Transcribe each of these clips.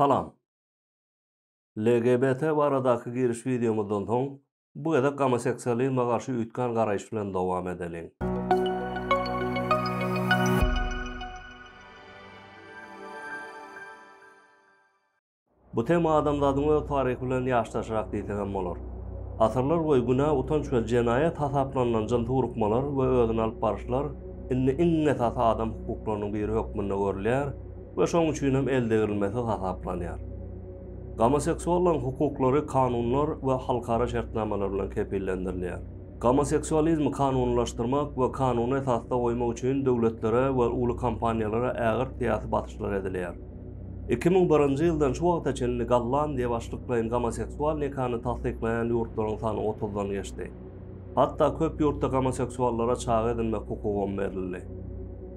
Salam. LGBT baradaky giriş wideomyzdan soň bu gezek gomoseksualizme garşy üýtgän garaýyş bilen dowam edeliň. Bu tema adamzadyň öz taryhy bilen ýaşdaşrak diýsek hem bolar. Asyrlar boýy günä, utanç we jenaýat hasaplanylan jynsy urukmalar we özüni alyp baryşlar indi iň esasy adam hukuklarynyň biri hökmünde görülýär we şonuň üçin hem eldegrilmesiz hasaplanýar. Gomoseksuallaryň hukuklary kanunlar we halkara şertnamalar bilen kepillendirilýär. Gomoseksualizmi kanunylaşdyrmak we kanuny esasda goýmak üçin döwletlere we uly kompaniýalara ägirt syýasy basyşlar edilýär. Iki müň birinji ýyldan şu wagta çenli Gollandiýa başlyklaýyn gomoseksual nikany tassyklaýan ýurtlaryň sany otuzdan geçdi. Hatda köp ýurtda gomoseksuallara çaga edinmek hukugam berildi.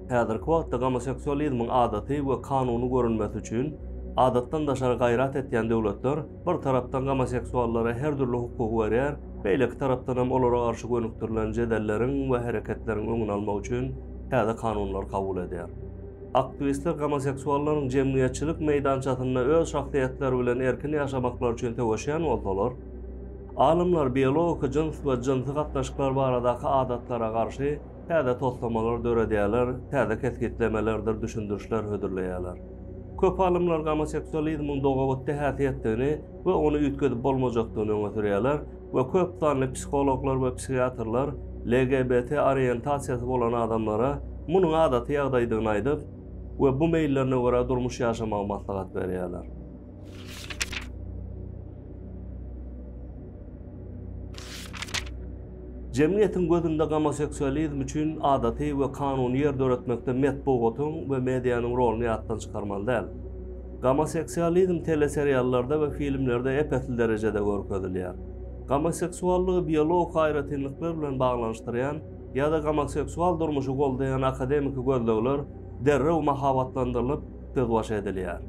Häzirki wagtda gomoseksualizmiň adaty we kanuny görünmesi üçin adatdan daşary gaýrat etýän döwletler bir tarapdan gomoseksuallara her dürli hukugy berýär, beýleki tarapdan hem olara garşy gönükdirilen jedelleriň we hereketleriň öňüni almak üçin täze kanunlary kabul edýär. Aktwistler gomoseksuallaryň jemgyýetçilik meýdançasynda öz şahsyýetleri bilen erkin ýaşamaklary üçin söweşýän bolsalar, Alymlar biologiki jyns we jynsy gatnaşyklar baradaky adatlara garşy täze toslamalary döredýärler, täze kesgitlemelerdir düşündirişler hödürleýärler. Köp alymlar gomoseksualizmiň dogabitdi häsiýetdigini we ony üýtgedip bolmajakdygyny öňe sürýärler we köp sanly psihologlar we psihiatrlar LGBT oriýentasiýasy bolan adamlara munuň adaty ýagdaýdygyny aýdyp we bu meýillerine görä durmuş ýaşamagy maslahat berýärler. Jemgyýetiň gözünde gomoseksualizm üçin adaty we kanuny ýer döretmekde metbugatyň we medianyň roluny ýatdan çykarmaly däl. Gomoseksualizm teleseriallarda we filmlerde ep-esli derejede görkezilýär. Gomoseksuallygy biologik aýratynlyklar bilen baglanyşdyrýan ýa-da gomoseksual durmuşy goldaýan akademiki gözlegler derrew mahabatlandyrylyp, gözbaş edilýär.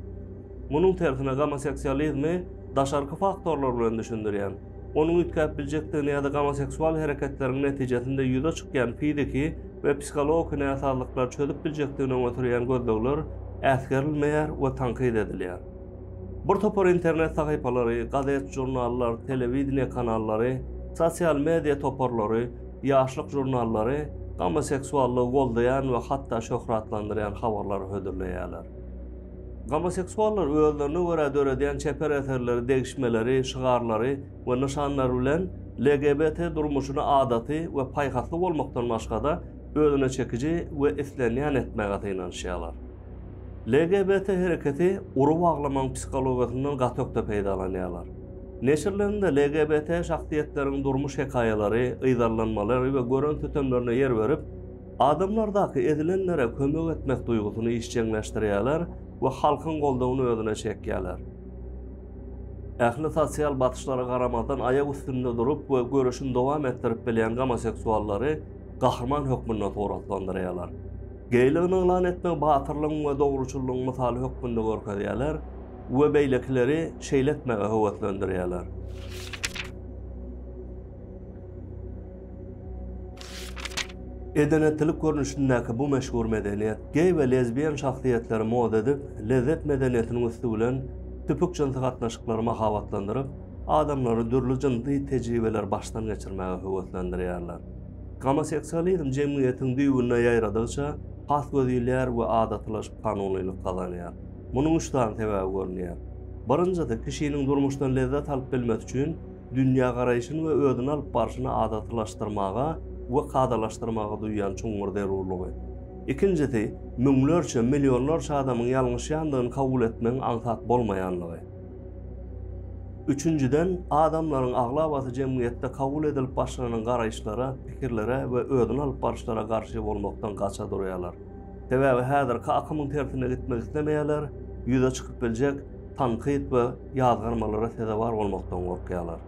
Munuň tersine gomoseksualizmi daşarky faktorlar bilen düşündirýän, onuň üýtgäp biljekdigini ýa-da gomoseksual hereketleriň netijesinde ýüze çykýan fiziki we psihologiki näsazlyklary çözüp biljekdigini öňe sürýän gözlegler äsgerilmeýär we tankyt edilýär. Bir topar internet sahypalary, gazet-žurnallar, telewideniýe kanallary, sosial media toparlary, ýaşlyk žurnallary gomoseksuallygy goldaýan we hatda şöhratlandyrýan habarlary hödürleýärler. Gomoseksuallar özlerine görä döredýän çeper eserleri, degişmeleri, şygarlary we nyşanlary bilen LGBT durmuşyny adaty we paýhasly bolmakdan başga-da, özüne çekiji we islenýän etmäge synanyşýarlar. LGBT hereketi ury baglamagyň psihologiýasyndan gaty ökde peýdalanýarlar. Neşirlerinde LGBT şahsyýetleriň durmuş hekaýalary, yzarlanmalary we gören sütemlerine ýer berip, Adamlardaky ezilenlere kömek etmek duýgusyny işjeňleşdirýärler we halkyň goldawyny özüne çekýärler. Ähli sosial basyşlara garamazdan aýak üstünde durup we göreşini dowam etdirip bilýän gomoseksuallary gahryman hökmünde suratlandyrýarlar. Geýligini yglan etmegi batyrlygyň we dogruçyllygyň mysaly hökmünde görkezýärler we beýlekileri şeýle etmäge höweslendirýärler. Edenetlilik görnüşindäki bu meşhur medeniýet, geý we lezbiýen şahsyýetleri mod edip, lezzet medeniýetiniň üsti bilen tüpük jynsy gatnaşyklary mahabatlandyryp, adamlary dürli jynsy tejribeleri başdan geçirmäge höweslendirýärler. Gomoseksualizm jemgyýetiň düýbüne ýaýradygyça, has gözýylýar we adatylaşyp kanunylyk gazanýar. Munuň üç sany sebäbi görünýär. Birinjisi, kişiniň durmuşdan lezzet alyp bilmesi üçin, dünýägaraýşyny we özüni alyp barşyny adatylaşdyrmaga we kadalaşdyrmaga duýýan çuňňur zerurlygy. Ikinjisi, müňlerçe, millionlarça adamyň ýalňyşýandygyny kabul etmegiň aňsat bolmaýanlygy. Üçünjiden, adamlaryň aglabasy jemgyýetde kabul edilip başlanan garaýyşlara, pikirlere we özüni alyp baryşlara garşy bolmakdan gaça durýarlar. Sebäbi häzirki akymyň tersine gitmek islemeýärler, ýüze çykyp biljek, tankyt we ýazgarmalara sezewar bolmakdan gorkýarlar.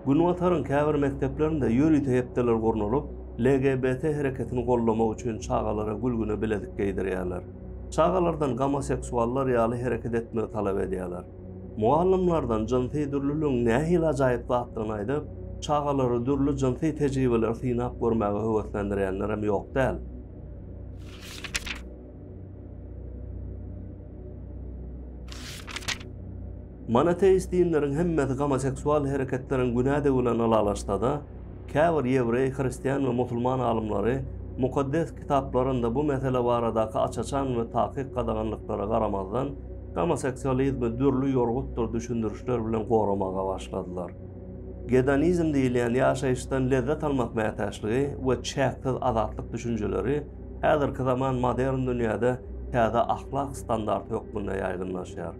Günbataryň käbir mekdeplerinde ýörite hepdeler gurnalyp, LGBT hereketini goldamak üçin çagalara gülgüne bilezik geýdirýärler. Çagalardan gomoseksuallar ýaly hereket etmegi talap edýärler. Mugallymlardan jynsy dürlüligiň nähili ajaýyp zatdygyny aýdyp, çagalary dürli jynsy tejribeleri synap görmäge höweslendirýänlerem ýok däl. Monoteist dinleriň hemmesi gomoseksual hereketleriň günädigi bilen ylalaşsa-da, käbir ýewreý, hristian we musulman alymlary Mukaddes Kitaplarynda bu mesele baradaky aç-açan we takyk gadaganlyklara garamazdan, gomoseksualizmi dürli ýorgutdyr düşündirişler bilen goramaga başladylar. Gedonizm diýilýän ýaşaýyşdan lezzet almak mätäçligi we çäksiz azatlyk düşünjeleri Häzirki zaman modern dünýäde täze ahlak standarty hökmünde ýaýgynlaşýar.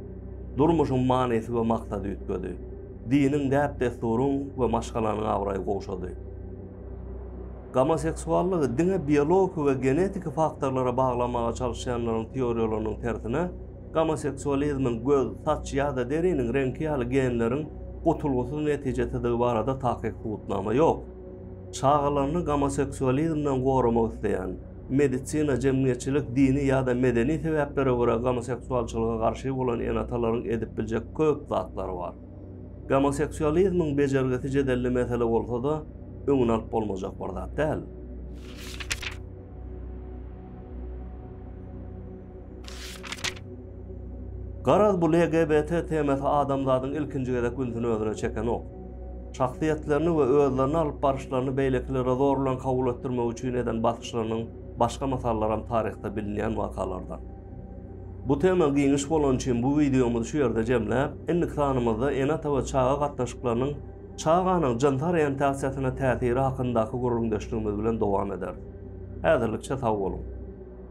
Durmuşyň manysy we maksady üýtgedi. Diniň, däp-dessuryň we maşgalanyň abraýy gowşady. Gomoseksuallygy diňe biologiki we genetiki faktorlara baglamaga çalyşýanlaryň teoriýalarynyň tersine, gomoseksualizmiň göz, saç ýa-da deriniň reňki ýaly genleriň gutulgysyz netijesidigi barada takyk subutnama ýok. Çagalaryny gomoseksualizmden goramak isleýän, medisina, jemgyýetçilik, dini ýa-da medeni sebäplere görä gomoseksualçylyga garşy bolan ene-atalaryň edip biljek köp zatlary bar. Gomoseksualizmiň bejergisi jedelli mesele bolsa-da, öňüni alyp bolmajak bir zat däl. Garaz bu LGBT temasy adamzadyň ilkinji gezek ünsüni özüne çekenok. Şahsyýetlerini we özlerini alyp baryşlaryny beýlekilere zor bilen kabul etdirmek üçin eden basyşlarynyň başga mysallaram taryhda bilinýän wakalardan. Bu tema giňiş bolany üçin bu wideomyzy şu ýerde jemläp, indiki sanymyzda ene-ata we çaga gatnaşyklarynyň çaganyň jynsy oriýentasiýasyna täsiri hakyndaky gürrüňdeşligimiz bilen dowam ederis. Häzirlikçe sag boluň!